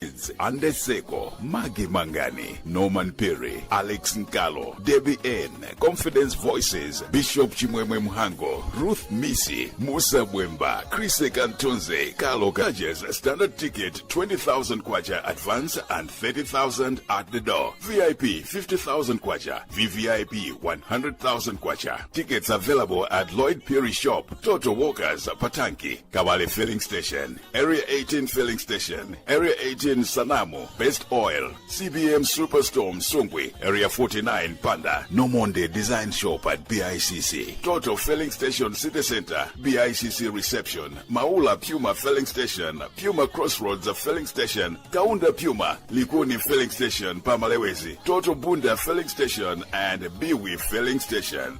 Kids, Ande Seko, Maggie Mangani, Norman Perry, Alex Nkalo, Debbie N, Confidence Voices, Bishop Chimwemwe Mhango, Ruth Misi, Musa Bwemba, Chris Kantonze, Carlo Gages, Standard Ticket, 20,000 Kwacha Advance and 30,000 at the door. VIP, 50,000 Kwacha. VVIP, 100,000 Kwacha. Tickets available at Lloyd Perry Shop, Toto Walkers, Patanki, Kawale Filling Station. Area 18 filling station, Area 18 Sanamu, Best Oil, CBM Superstorm Sungwi, Area 49 Panda, Nomonde Design Shop at BICC, Toto filling station City Center, BICC Reception, Maula Puma filling station, Puma Crossroads filling station, Kaunda Puma, Likuni filling station, Pamalewezi, Toto Bunda filling station and Biwi filling station.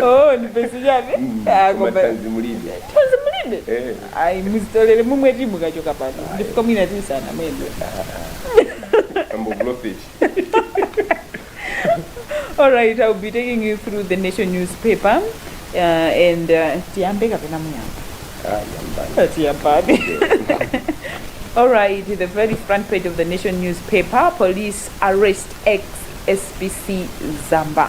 oh ndipesi chani Ah, koma koma tanzi mulibe tanzi mulibe Eh. ayi muzitolere mumwe ti mukachoka pano ndifika mwina tisana mwendo ambo profit all right i'll be taking you through the nation newspaper uh, and uh, tiyambe kapena muyamba ah yambani Tiyambe. All right, the very front page of the Nation newspaper police arrest ex SPC Zamba.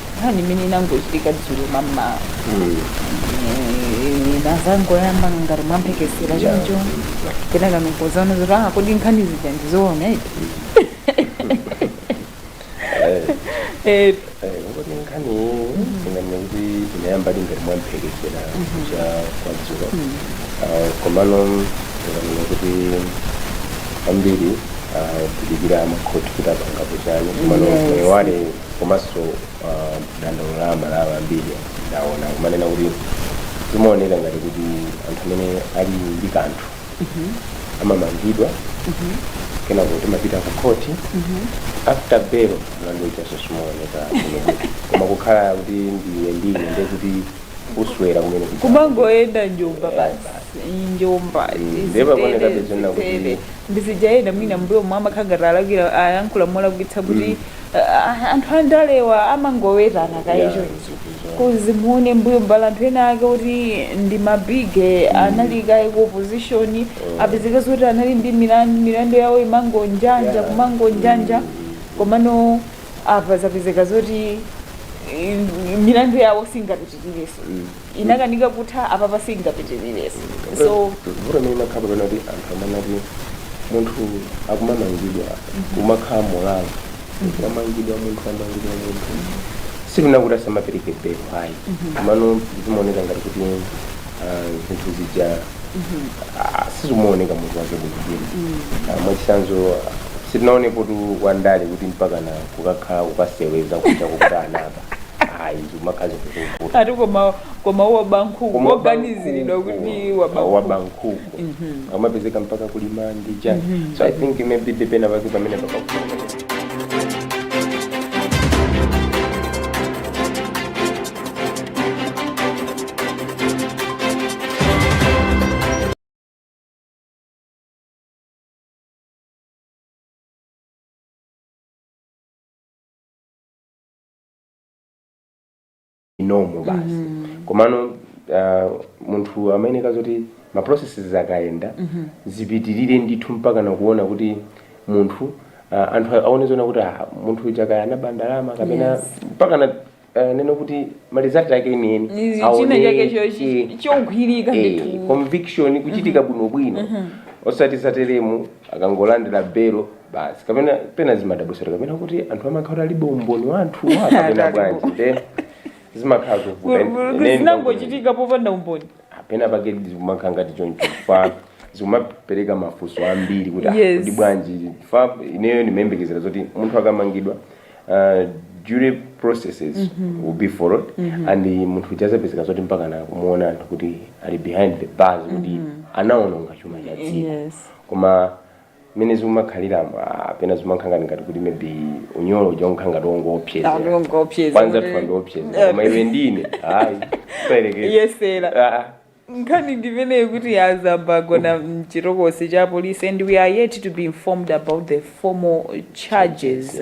nkhani imene inangochitika dzulo mammawa inazangoyamba ngati mwamphekesera choncho kenaka nkuzaona zoti ah kodi nkhani zija ndizoona iti Eh, kuti nkhani tinganene kuti inayamba ngati mwamphekesera cha kwa dzulo Ah, komano tinganene kuti ambiri ah, akudikira makhoti kuti apangapo chani komano Yes. moyo wale komanso uh, dandaulo la aMalawi ambiri ndaona kumanena kuti zimaoneka ngati kuti anthu amene ali ndi kanthu amamangidwa kenako timapita ku khoti after bail mlandu uja so sumaoneka kumene kuti koma kukhala kuti ndiwe ndine nde kuti uswera kumene kuti- kumangoyenda njomba basi njomba Ndiye pakuoneka zoona kuti- ndi zija enda mwina mbuyomu amakhala ngati alakwira ayankhula molakwitsa kuti Aaa anthu andalewa amangowetana kaye Yeah, chonchi ndizoti zoona. cause muone mbuyomu pali anthu ena ake oti ndi ma big anali kaye ku opposition apezeka zoti anali ndi milandu milandu yawo imangondanda Yeah. kumangondanda komano apa zapezeka zoti eh, milandu yawo singapitirireso inakanika kutha apapa singapitirirenso so vuto limene limakhalapo pena kuti anthu amati munthu akumamangidwa kumakhala molalo wamangidwa munthu wamangidwa munthu sikunena kuti asamapereke belo ayi komano zimaoneka ngati kuti ah, zinthu zija ah, sizimaoneka mutu wake bwinobwino Ah, mwachitsanzo sitinaonepotu wandale kuti mpaka na kukakhala kukaseweza kuja kuti anaba ayi zimakhala zinthu zovuta ati koma koma woba nkhuku Koma woganiziridwa kuti waba ah, waba nkhuku. nkhuku amapezeka mpaka kulima ndi chani so i think maybe penapake pamene pakakula normal basi komano uh, munthu amayeneka zoti ma processes akayenda zipitirire ndithu mpaka nakuona kuti munthu uh, anthu aone zona kuti ah, munthu uja kaya anaba ndalama kapena Yes. mpaka na uh, nene kuti malizati ake enieni Ni china chake cho- chi- chogwirika ndithu. conviction kuchitika bwinobwino osati zateremu akangolandira belo basi kapena pena zimadabwitsa kapena kuti anthu amakhala alibe umboni wa anthu wa kapena bwanji nde zimakhala zovuta Ine- ine ndikuti- zinangochitika popanda umboni pena pake zikumakhala ngati choncho fa zikumapereka mafunso ambiri kuti ah, Yes. kuti bwanji fa ineyo ndimayembekezera zoti munthu akamangidwa uh, jury processes Mhm. will be followed Mhm. and munthu azapezeka zoti mpaka na kumuona anthu kuti ali behind the bars kuti Mhm. anaononga chuma cha dziko yes koma mmene zikumakhaliramu ah, pena zimakhala ngati ngati kuti maybe unyolo uja umakhala ngati wongoopseza Anthu ongoopseza anzathuwa ndi opseza koma iwe ndine ayi ungayerekeze yesera Ah, ah. nkhani ndimeneyo kuti azabagona mchitokosi cha polisi and we are yet to be informed about the formal charges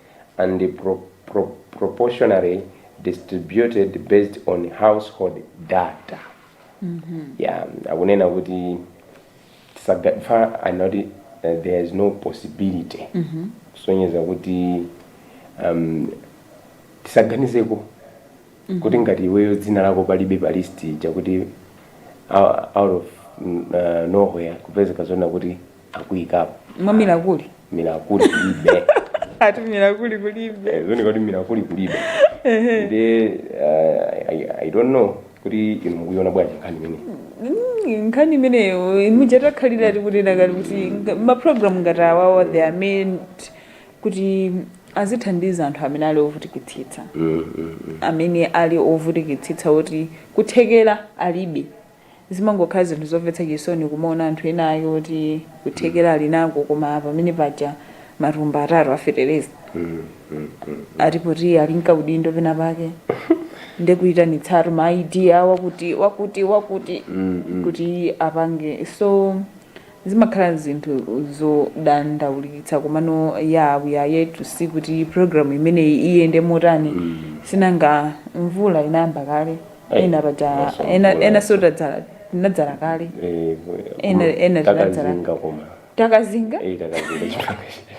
and proportionally distributed based on household data yeah akunena kuti tisaga- fa anoti uh, there is no possibility kusonyeza kuti um, tisaganizeko kuti ngati iweyo dzina lako palibe pa list chakuti out out of mm, uh, nowhere kupezeka zona kuti akuikapo mwa milakuli milakuli kulibe ati milakuli kulibe Eh, zoona kuti milakuli kulibe ndi uh, I, i don't know kuti inu mukuiona bwanji nkhani imeneyi Mm, nkhani imeneyo muja takhalira tikunena kale kuti nga- mapulogalamu ngati awawa they are meant kuti azithandiza anthu amene ali ovutikitsitsa Mm, mm, mm. amene ali ovutikitsitsa kuti kuthekera alibe Zimangokhala zinthu zomvetsa chisoni kumaona anthu ena ake oti kuthekera ali nako koma pamene paja matumba atatu a fetereza ati poti ali nkaudindo pena pake nde kuyitanitsatu ma ID a wakuti wakuti wakuti kuti apange so Zimakhala zinthu zodandaulitsa komano yaa we are yet to see kuti program imeneyi iyende motani sinanga mvula inayamba kale Ayi, ena paja maso ena mvula. enanso tadzala tinadzala kale Eh, Ena- ena tinadzala. takazinga koma takazinga Eh, takazinga chipanga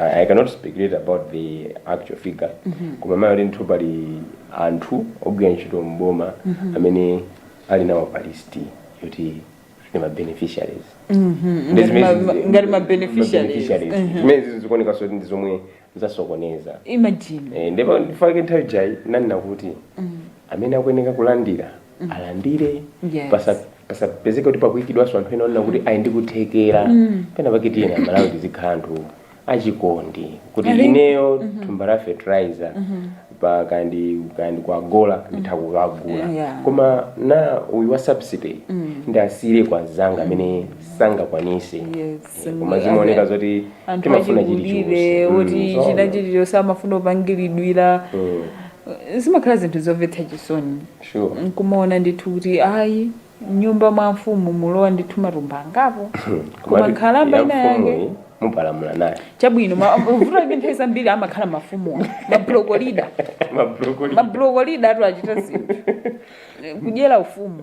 I, I cannot speculate about the actual figure mm -hmm. koma mayo ndithu pali anthu ogwira ntchito mboma mm -hmm. amene ali nawo pa list yoti ndi ma beneficiaries mm -hmm. Ndi zimene- Ngati ma- ma- ngati ma beneficiaries. beneficiaries. Mhm. zimene zizi zikuonekanso ndi zomwe zasokoneza imagine Eh, ndipo nchifake nthawi ijayi nanena kuti amene akuyeneka kulandira alandire Yes. pasa- pasapezeke kuti pakuikidwanso anthu ena onena kuti ayi ndikuthekera pena pake tiyeni amalawi tizikhala anthu achikondi kuti I think- ineyo thumba la fertilizer pa kandi kandi kwa agro nditha kukagula Yeah. koma nanga uyu wa subsidy ndiwasiyire azanga amene sangakwanise Yes. Eh, koma zimaoneka zoti anthu timafuna achikulire kuti chilichonse china chilichonse amafuna kupangiridwira zimakhala zinthu zomvetsa chisoni Sure. nkumaona ndithu kuti ayi mnyumba mwa mfumu mulowa ndithu matumba angapo koma Komatu nkhalamba ya ina yake mfumuyi mupalamula nayo chabwino ma- vuto lake nthawi zambiri amakhala mafumu mabrokolida mabrokoli mabrokolida tu achita zinthu kudyera ufumu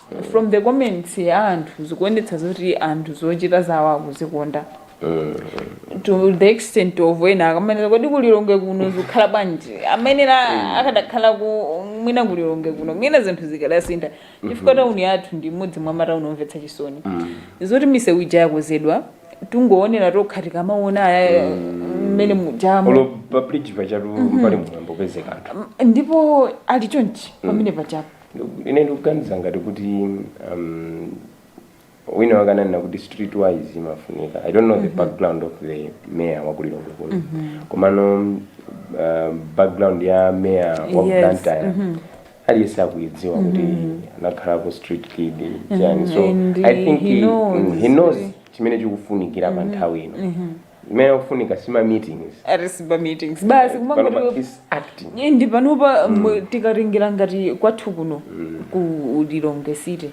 from the comments za anthu zikuonetsa zoti anthu zochita zawo akuzikonda to the extent of ena akamanena kodi kulilongwe kuno zikukhala bwanji a mayor akadakhala ku mwina kulilongwe kuno mwina zinthu zikadasintha chifukwa tauni yathu ndi imodzi mwa matauni omvetsa chisoni zoti misewu ija yakonzedwa tingoonera tokha tikamaona aya mmene mujamo olo pabridge pachatu pali mwambo pezeka anthu ndipo ali chonchi pamene pachapo Ine ndikuganiza ngati kuti um, wina wake ananena kuti street wise imafunika i don't know the background of the mayor wa kulilongwe kuno komano um, background ya mayor waku Yes, blantyre aliyense akuidziwa kuti anakhalapo street kid chani so and i think he he- knows. mm, he knows chimene chikufunikira pa nthawi ino zimene zikufunika sima meetings arisiba meetings basi pano pa kumangoti is acting Ye, ndi panopa mwe- tikalingira ngati kwathu kuno ku lilongwe city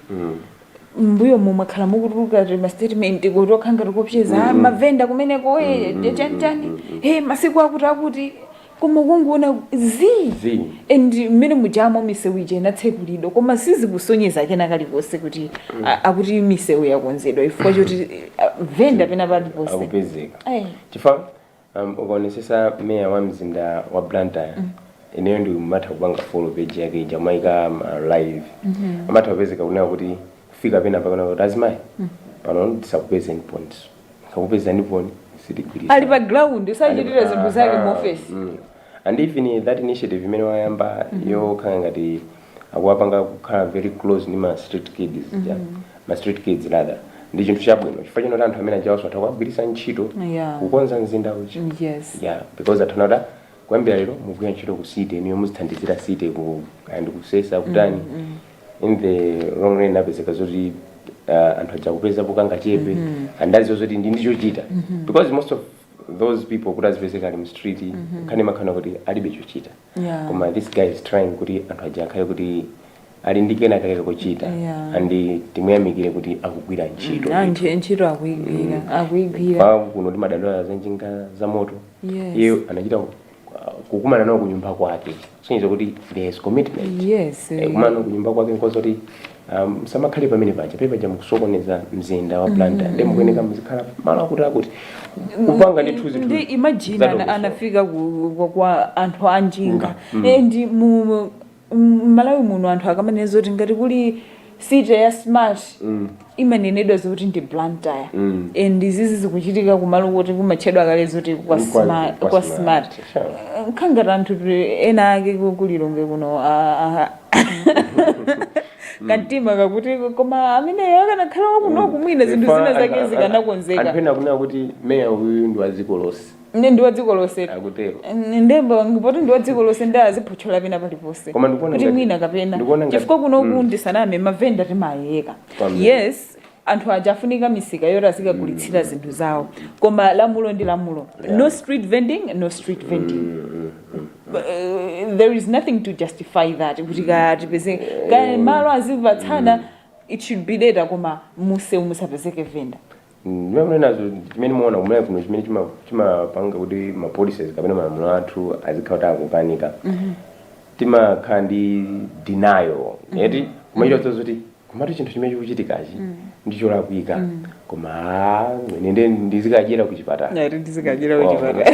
mbuyomu mwakhala mukutuluka timastatement kutokha ngati koopseza mavenda kumeneko e chanichani e masiku akuti akuti Koma kungoona zii! Zii. And mmene mujamo misewu ija inatsekulidwa koma sizikusonyeza kena kalikonse kuti a- akuti misewu yakonzedwa chifukwa choti a, venda pena paliponse. akupezeka Eh. chifukwa um, ukaonesesa meya wa mzinda wa blantyre ineyo ndimatha kupanga follow page yake ija amaika ma live amatha kupezeka kunena kuti kufika pena pake nanena kuti azimayi pano ndisakupezeniponso sakupeza point sitigwirizana. ali pa ground usachitire zinthu zake mu ofesi Mm. and even that initiative imene wayamba yokhala ngati akuwapanga kukhala very close ndi ma street kids aja ma street kids rather ndi chinthu chabwino chifukwa choti anthu amene ajawaso atha kuwagwiritsa ntchito Yeah. kukonza mzinda uja yes yeah because atauza anthu kuyambira lero mugwira ntchito ku city inuyo muzithandizira city ku and kusesa kutani in the long run apezeka zoti uh, anthu aja akupezapo kangachepe and adziwa zoti ali ndichochita because most of those people kuti azipezeka ali mu street nkhani imakhala kuti alibe chochita Yeah. koma this guy is trying kuti anthu aja akhale kuti ali ndi kena kake kochita Yeah. and timuyamikire kuti akugwira ntchito anthu ntchito akuigwira akuigwira kwa kuno madandaulo za njinga za moto Yeah. iye anachita kukumana nawo kunyumba kwake kusonyeza kuti there is commitment yes Eh, kukumana nawo kunyumba kwake nkuwauza kuti musamakhale pamene paja pamene paja mukusokoneza mzinda wa blantyre nde mukuyeneka muzikhala malo akuti akuti kupanga zinthuzi zinthuzi imagine ana- Zadongosolo. anafika ku- kwa- kwa anthu anjinga Nga, mm. Eh, ndi mu mu- m'malawi muno anthu akamanena zoti ngati kuli city ya smart Mm. imanenedwa zoti ndi blantyre Mm. and izizi zikuchitika kumalo koti kumatchedwa kale zoti kwa Kwa- smart, kwa kwa smart. smart. Sure. nkhani ngati anthu ti- ena ake ku- kulilongwe kuno ah, ah. kamtima kakuti koma ameneyo akanakhala wakunoku mwina zinthu zina zake zikanakonzeka anthu ena kunena kuti meya uyu ndi wa dziko lonse Ine ndi wa dziko lonse. Akutero. N- Nde mbo- ngati ndi wa dziko lonse nde aziphotchola pena paliponse. Koma ndikuona Kuti ngati- mwina kapena. ndikuona ngati- Chifukwa kuno mm. kukadi tisaname mavenda timayeka. Kwambiri. Yes. anthu aja afunika misika yoti azikagulitsira zinthu zawo koma lamulo ndi lamulo Yeah. no street vending no street vending uh, there is nothing to justify that kuti katipeze kaya malo azipatsana it should be later koma mumsewu musapezeke venda ndiye mmene nazo chimene ndimaona kumene kuno chimene chima- chimapanga kuti ma policies kapena malamulo athu azikhala kuti akukanika timakhala ndi denial eti kumachita kuti zoti kumati chinthu chimene chikuchitikachi ndi cholakwika koma ah, ine ndi- ndizikadyera ku chipatala Ngati ndizikadyera ku Wow. chipatala.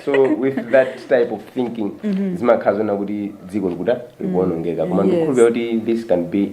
so with that type of thinking zimakhala zonena kuti dziko likuta likuonongeka koma Yes. ndikukhulupirira kuti this can be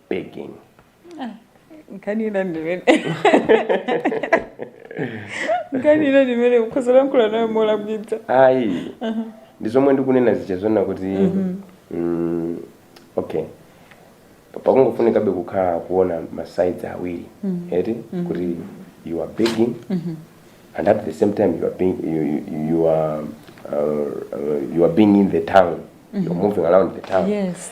begging nkhani ina ndimene nkhani ina ndimene ukhoza lankhula nayo molakwitsa ayi ndi zomwe ndikunena zija zonena kuti mm, okay Pa- pakungofunikabe kukhala kuona masides awiri eti kuti you are begging and at the same time you are being, you, you, you are uh, uh, you are being in the town you're moving around the town yes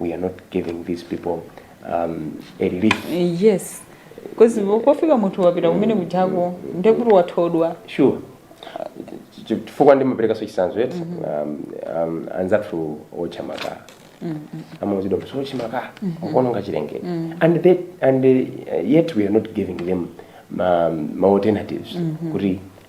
we are not giving these people um, a lift. Eh, yes because pofika munthu wapita kumene kujako ndekuti wathodwa kale Sure. Ch- ch- chifukwa ndimaperekaso chisanzo eti um, um, anzathu otcha makala amauzidwa kuti otcha makala akuononga chilengedwe and, they, and uh, yet we are not giving them ma, ma alternatives kuti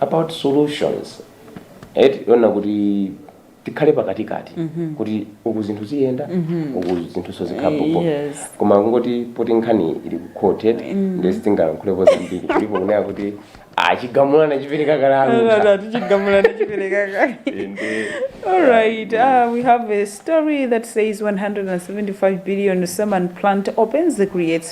about solutions eti yonena kuti tikhale pakatikati kuti uku zinthu ziyenda uku zinthu zizikhalapo Yes. koma kungoti poti nkhani ili ku court eti nde sitingalankhulepo zambiri kulipo kunena kuti chigamulo anachipereka kale kuti chigamulo anachipereka kale ende All right, uh, we have a story that says 175 billion cement plant opens creates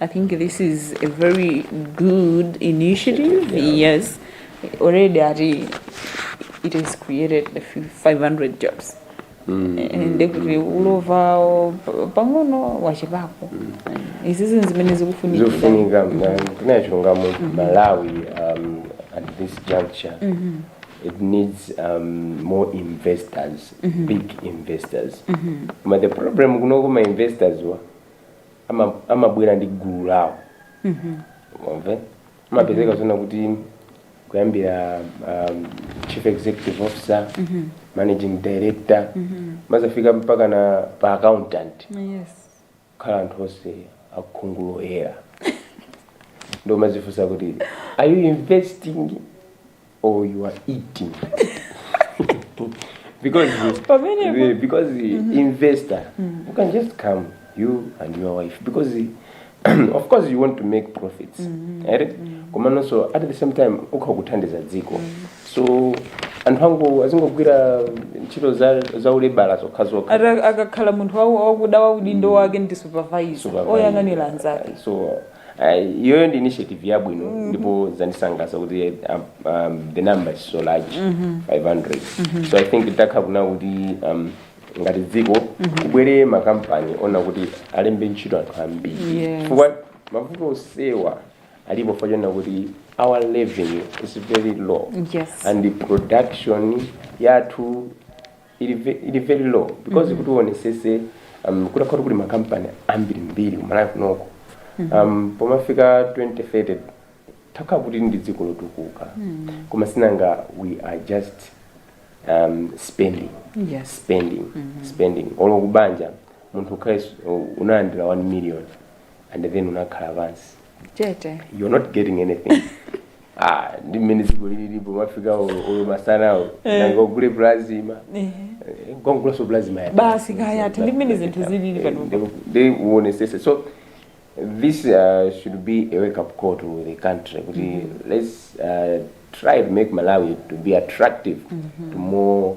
I think this is a very good initiative. Yeah. Yes, already ati it has created a few 500 jobs. ende kuti ulovawo pang'ono wachepapo izizi zimene zikufunika zofunika kunachilungamo malawi um, at this juncture it needs um, more investors big investors koma the problem kunoko ma investors wa ama- amabwera ndi gulu lawo ndiye amapezeka zonena kuti kuyambira um, chief executive officer managing director mumazafika mpaka na pa accountant yes kukhala anthu onse a khungu loyera nde umazifunsa kuti are you investing or you are eating because Pamene- the, because the investor you can just come you and your wife because the, of course you want to make profits right komanso at the same time ukhale ukuthandiza dziko so anthu angu azingogwira ntchito za, za ulebala zokha zokha Ata- akakhala munthu wa- wakuda udindo wake ndi supervisor Supervisor. oyang'anira anzake so Uh, iyoyo ndi initiative yabwino mm -hmm. ndipo zandisangalatsa kuti um, um, the number is so large mm -hmm. 500 mm -hmm. so i think zitakhala kunena kuti um, ngati dziko mm -hmm. kubwere makampani onena kuti alembe ntchito anthu ambiri Yes. chifukwa mavuto onsewa alipo chifukwa chonena kuti our revenue is very low Yes. and the production yathu ili ve- ili very low because kuti uonesese um, kutakhala kuti kuli makampani ambirimbiri ku Malawi kunoko um, pomafika 2030 titakhala kuti ndi dziko lotukuka koma si nanga we are just um, spending Yes. spending spending olo kubanja munthu ukhale unalandira 1 million and then unakhala pansi Chete. you're not getting anything ah ndi mmene dziko lilili pomafika olo olo masanawo Eh. nanga ungogula plasma Ehe. Eh, nkugulanso plasma ya Basi kaya ati ndi mmene zinthu zilili panopa. nde uonesese so this uh, should be a wake up call to the country kuti let's uh, try to make malawi to be attractive to more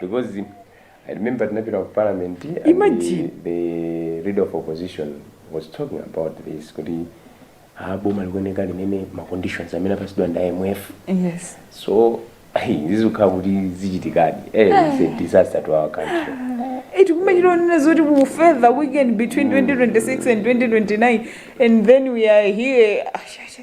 because I remember tinapita ku parliament and Imagine. the, the leader of opposition was talking about this kuti ah, boma likuonekali nene ma conditions amene apasidwa ndi IMF yes so zizikhala kuti zichitikadi eh, it's a disaster to our country eti kumachita kunena zoti ku further weaken between 2026 and 2029 and then we are here Ah, sha, sha.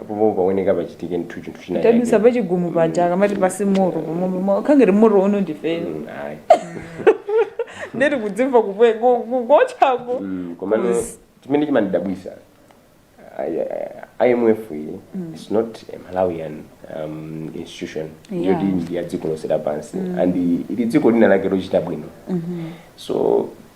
apo pomwe pakuoneka pachitike chinthu chinthu china tadusa chake. pachigumu paja akamati palibe moto pomwe khangere moto uno ndife Mm, ayi. ndeti kudzimva kupwe- ku- ku- kochako Mm, komano Yes. chimene chimandidabwisa I- I- imf iyi is not a malawian um, institution Yeah. yoti ndi ya dziko lonse lapansi and ili dziko lina lake lochita bwino so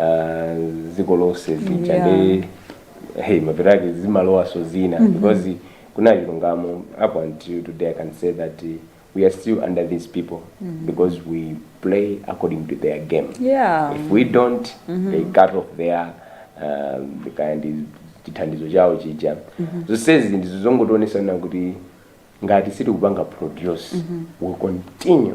ah, dziko lonse zija Yeah. ndi hey, mapeto ake zimalowaso zina because kunena chilungamo up until today i can say that eh, we are still under these people because we play according to their game Yeah. if we don't they cut off their um, kind of chithandizo chawo chija zonsezi ndizo zongotionesana kuti ngati sitikupanga produce we continue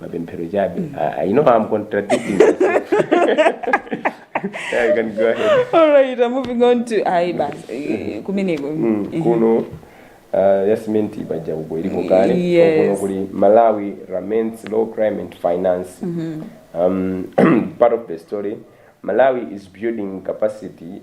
mapemphero chabe Ah, you know I'm contradicting myself. yeah, you can go ahead alright I'm moving on to ayi basi eh, kumeneko Mm, Mhm. kuno uh, yasimenti paja uko ilipo kale Yes. kuno kuli malawi remains low crime and finance um, part of the story malawi is building capacity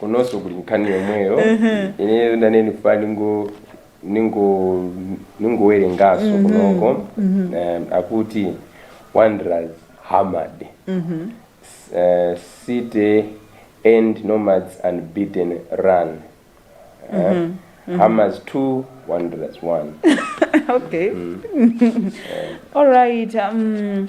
kunonso kuli nkhani yomweyo ine ndinali ndikufuna ningo ningo ningowerenganso kunoko um, akuti wanderers hammered S- eh, city end nomads unbeaten run Eh, hammers 2 wanderers 1 okay alright um,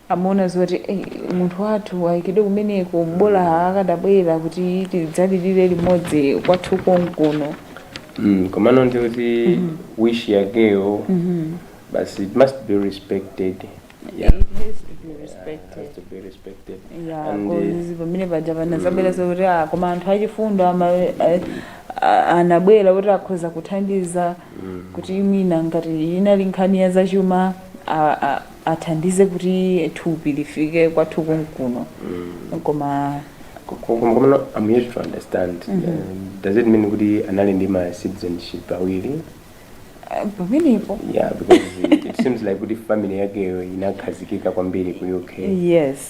amaona zoti munthu wathu ayikidwe kumeneko bola akadabwera kuti tidzalilire limodzi kwathu konkuno mm, komano ndi kuti mm -hmm. wish yakeyo mm -hmm. but it must be respected yeah. pamene paja panazabwera zokuti ah, koma anthu achifundo anabwera kuti akhoza kuthandiza mm. kuti mwina ngati inali nkhani ya zachuma athandize kuti thupi lifike kwathu konkuno koma koma koma I'm yet to understand uh, does it mean kuti anali ndi ma citizenship awiri eh, pamenepo yeah because it seems like kuti family yakeyo inakhazikika kwambiri ku UK yes